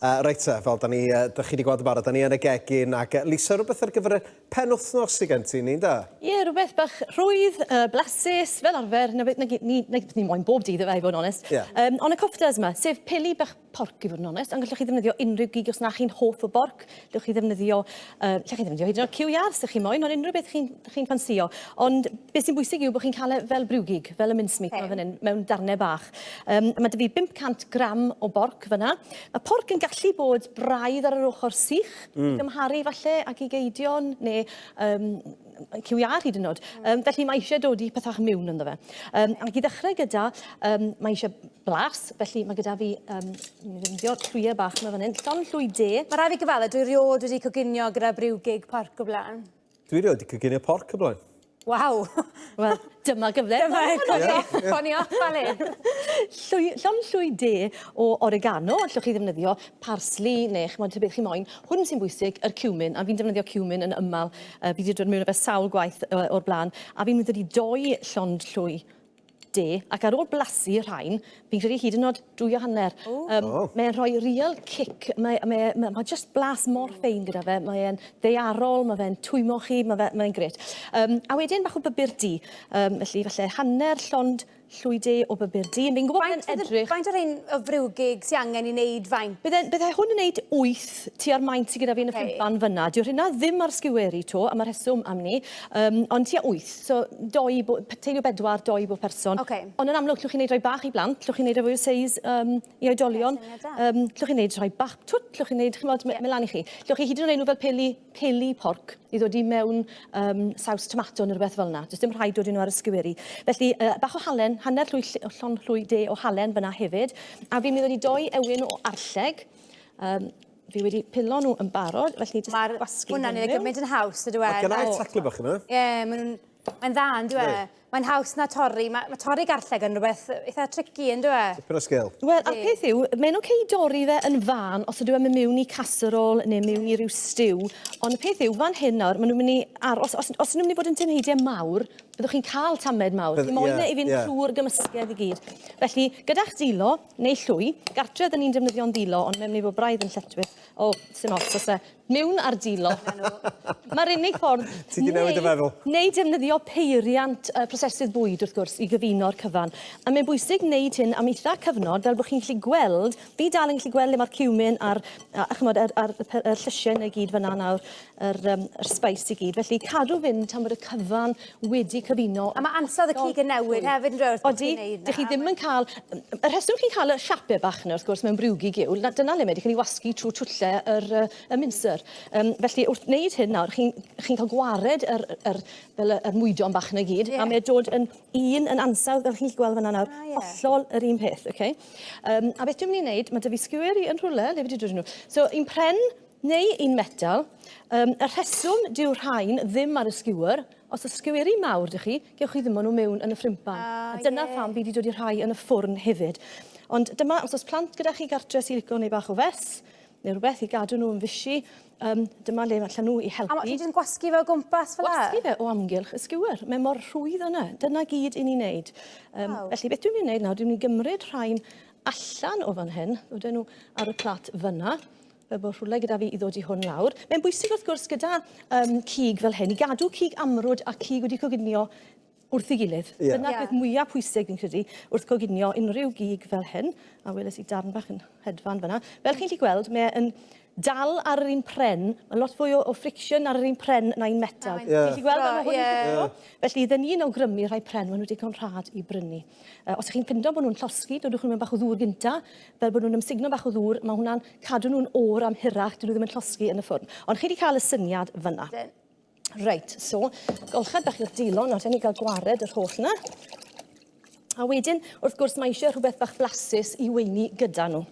Uh, reit te, fel da ni, uh, da chi wedi gweld yn barod, da ni yn y gegin, ac uh, Lisa, rhywbeth ar gyfer y pen wythnos i gen ti, ni'n da? Ie, yeah, rhywbeth bach rhwydd, uh, blasus, fel arfer, na beth ni, ni, ni, ni moyn bob dydd efe, i fod yn onest. Yeah. Um, ond y coftas yma, sef peli bach porc i fod yn onest, ond gallwch chi ddefnyddio unrhyw gig os na chi'n hoff o borc, Dewch chi ddefnyddio, uh, lle chi ddefnyddio hyd yn oed QR os ydych chi'n moyn, ond unrhyw beth chi'n chi ffansio. Ond beth sy'n bwysig yw bod chi'n cael e fel briwgig, fel y mincemeat okay. fan hyn, mewn darnau bach. Um, mae dy fi 500 gram o borc fyna. Mae porc yn gallu bod braidd ar yr ochr sych, mm. i gymharu falle ac i geidion, neu um, cyw iar hyd yn oed. Um, felly mae eisiau dod i pethach miwn ynddo fe. Um, ac i ddechrau gyda, um, mae eisiau blas, felly mae gyda fi, um, mi ddefnyddio llwyau bach yma fan hyn, llon llwy de. Mae rhaid fi gyfadda, dwi riod wedi coginio gyda briw gig porc o blaen. Dwi riod wedi coginio porc o blaen. Waw! Wel, dyma gyfle. Dyma eto, o'n i off fel hyn. Llon llwy de o oregano, allwch chi ddefnyddio parsli neu chymod tybyd chi moyn. Hwn sy'n bwysig, yr cumin, a fi'n defnyddio cumin yn ymal Uh, fi wedi dod mewn fe sawl gwaith uh, o'r blaen, a fi'n mynd wedi doi llond llwy de, ac ar ôl blasu rhain, fi'n credu hyd yn oed dwy o hanner. Um, oh. Mae'n rhoi real cic, mae, mae, mae, mae just blas mor ffein gyda fe, mae'n ddeiarol, mae fe'n twymo chi, mae'n mae, mae gret. Um, a wedyn bach o bybur di, um, felly falle hanner llond Llwy de o bupur du. Fi'n gwybod bod e'n edrych... Faint o rhein o frwgig sy angen i wneud faint? Bydde, bydde hwn yn wneud wyth tua'r maint sydd gyda fi yn y ffimpan fyna. Dyw hynna ddim ar sgiweri to, am y rheswm am ni, um, ond tua wyth. So, doi, bo, teulu o bedwar, doi bob person. Okay. Ond yn amlwg, llwch chi'n wneud rhai bach i blant, llwch chi'n wneud rhai fwy o seis um, i oedolion, um, llwch chi'n wneud rhai bach twt, llwch chi'n wneud, chymod, yeah. melan i chi. Llwch chi hyd yn oed enw fel peli peli porc i ddod i mewn um, saws tomato neu rhywbeth fel yna. Does dim rhaid dod nhw ar ysgyweri. Felly, uh, bach o halen, hanner llwy, llon llwy de o halen fyna hefyd. A fi'n mynd i doi ewyn o arlleg. Um, fi wedi pilo nhw yn barod, felly jyst Mae'r gwasgu hwnnw'n ei gymaint yn haws, ydw e? Mae gennau taclu bach yma. Ie, maen nhw'n... Mae'n dda, yn dwi e? Mae'n haws na torri. Mae, mae torri garlleg yn rhywbeth eitha tricky, yn dweud? e? Tipyn o sgil. Wel, a'r peth yw, mae'n oce okay dorri fe yn fan os ydw e'n mewn i casserole neu mewn i ryw stew, ond y peth yw, fan hyn nawr, maen nhw'n mynd i aros, os, os nhw'n mynd i bod yn tynheidiau mawr, byddwch chi'n cael tamed mawr. Bydd, Chi moyn yeah, e i fynd yeah. trwy'r gymysgedd i gyd. Felly, gyda'ch ddilo, neu llwy, gartre ydyn ni'n defnyddio'n ddilo, ond mae'n mynd i fod braidd yn lletwyth. O, sy'n ots, os e, Mewn ardilo. Mae'r unig ffordd... Ti di newid dy feddwl? Neu defnyddio peiriant uh, prosesydd bwyd, wrth gwrs, i gyfuno'r cyfan. A mae'n bwysig wneud hyn am eitha cyfnod, fel bod chi'n gallu gweld, fi dal yn gallu gweld le mae'r cumin a'r, a, a chymod, a'r, a'r, a'r, a'r llysiau neu gyd fyna nawr, yr, um, yr spice i gyd. Felly cadw fynd tan bod y cyfan wedi cyfuno. A mae ansawdd y cig yn newid hefyd yn dweud wrth bod chi'n neud 'na. Odi, dych chi ddim yn cael... Y rheswm chi'n cael y siapie bach yna wrth gwrs mewn briwgig yw, na, dyna le mae wedi cael ei wasgu trwy twlle yr yy y minsr. Yym felly wrth wneud hyn nawr chi'n chi'n cael gwared yr yr fel y yr mwydon bach 'na i gyd... Ie. ...a mae dod yn un yn ansawdd fel chi'n gallu gweld fana nawr. A ie. Hollol yr un peth, oce? Yym a beth dwi'n myn' i neud ma' 'dy fi sgweri yn rhwle, le fi 'di dod â nw? So un pren Neu un metal. Um, y rheswm dyw rhain ddim ar y skewer, os y sgeweri mawr dych chi, gewch chi ddim nhw mewn yn y ffrimpan. Ah, a dyna yeah. pam fi wedi dod i rhai yn y ffwrn hefyd. Ond dyma, os oes plant gyda chi gartre sy'n licio neu bach o fes, neu rhywbeth i gadw nhw yn fysi, um, dyma le allan nhw i helpu. A mae ti'n gwasgu fe o gwmpas fel e? Gwasgu fe o amgylch y skewer. Mae mor rhwydd yna. Dyna gyd i ni wneud. Um, wow. Felly beth dwi'n mynd i wneud nawr, dwi'n mynd i gymryd rhain allan o fan hyn, oedden nhw ar y plat fyna, fel bod rhywle gyda fi i ddod i hwn lawr. Mae'n bwysig wrth gwrs gyda um, cig fel hyn i gadw cig amrwd a cig wedi coginio wrth ei gilydd. Yeah. Dyna'r yeah. peth mwyaf pwysig fi'n credu wrth coginio unrhyw gig fel hyn, a weles i darn bach yn hedfan fyna. Fel chi'n gallu gweld, mae'n dal ar yr un pren, mae lot fwy o, o friction ar yr un pren na'n metal. Oh, yeah. Ti'n gweld yma hwn yeah. yeah. Felly, dyn ni'n awgrymu rhai pren, maen nhw digon rhad i brynu. Uh, os ydych chi'n pindo bod nhw'n llosgi, dodwch nhw'n bach o ddŵr gynta, fel bod nhw'n ymsugno bach o ddŵr, mae hwnna'n cadw nhw'n oer am hirach, dyn nhw ddim yn llosgi yn y ffwrn. Ond chi wedi cael y syniad fyna. Reit, so, golchad bach i'r dilo, nawr rhaid ni gael gwared yr holl yna. A wedyn, wrth gwrs, mae eisiau rhywbeth bach flasus i weini gyda nhw.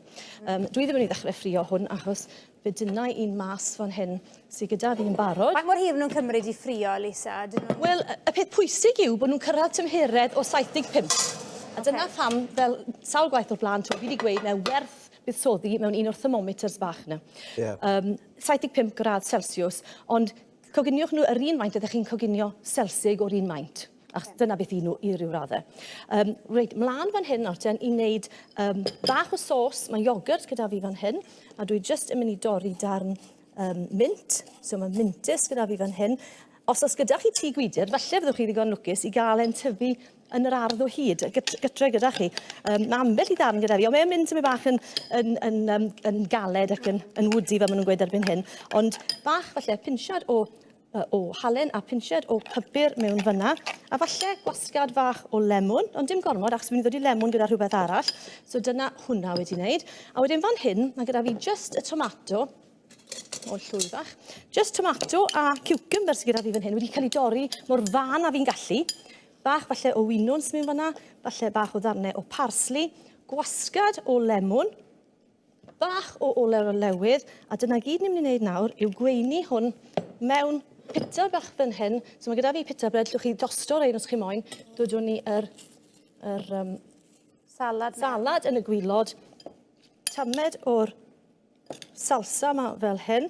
Um, dwi ddim yn mynd i ddechrau ffrio hwn achos Fe dynnai un mas fan hyn sy gyda fi'n barod. Faint mor hir maen nhw'n cymryd i ffrio, Lisa? Wel, y peth pwysig yw bod nhw'n cyrraedd tymheredd o 75. A okay. dyna pham, fel sawl gwaith o'r blaen, fi wedi gweud mae werth buddsoddi mewn un o'r thermometers bach yna. Yeah. Um, 75 gradd Celsius, ond coginiwch nhw yr un maint ydych chi'n coginio selsig o'r un maint. Achos dyna beth i nhw i ryw raddau. Um, reit, mlaen fan hyn nawr ten i wneud um, bach o sos. Mae iogurt gyda fi fan hyn, a dwi jyst yn mynd i dorri darn um, mint. So mae mintus gyda fi fan hyn. Os oes gyda chi tŷ gwydr, falle fyddwch chi ddigon lwcus i gael e'n tyfu yn yr ardd o hyd, gytre gyda chi. Um, mae ambell i ddarn gyda fi, ond mae'n mynd tyfu bach yn, yn, yn, um, yn galed ac yn, yn wdi fel maen nhw'n gweud erbyn hyn. Ond bach falle pinsiad o o halen a pinched o pypur mewn fyna, a falle gwasgad fach o lemwn, ond dim gormod achos fi'n mynd i ddod i lemwn gyda rhywbeth arall. So dyna hwnna wedi wneud. A wedyn fan hyn, mae gyda fi just y tomato, o llwy fach, just tomato a cucumber sydd gyda fi fan hyn wedi cael ei dorri mor fan a fi'n gallu. Bach falle o winwns mewn fyna, falle bach o ddarnau o parsley, gwasgad o lemwn, bach o olew o lewydd, a dyna gyd ni'n mynd i wneud nawr yw gweini hwn mewn pita bach fan hyn. So mae gyda fi pita bread, llwch chi dosto rein os chi moyn. Dodwn ni yr, yr um, salad, salad yn y gwylod. Tamed o'r salsa yma fel hyn.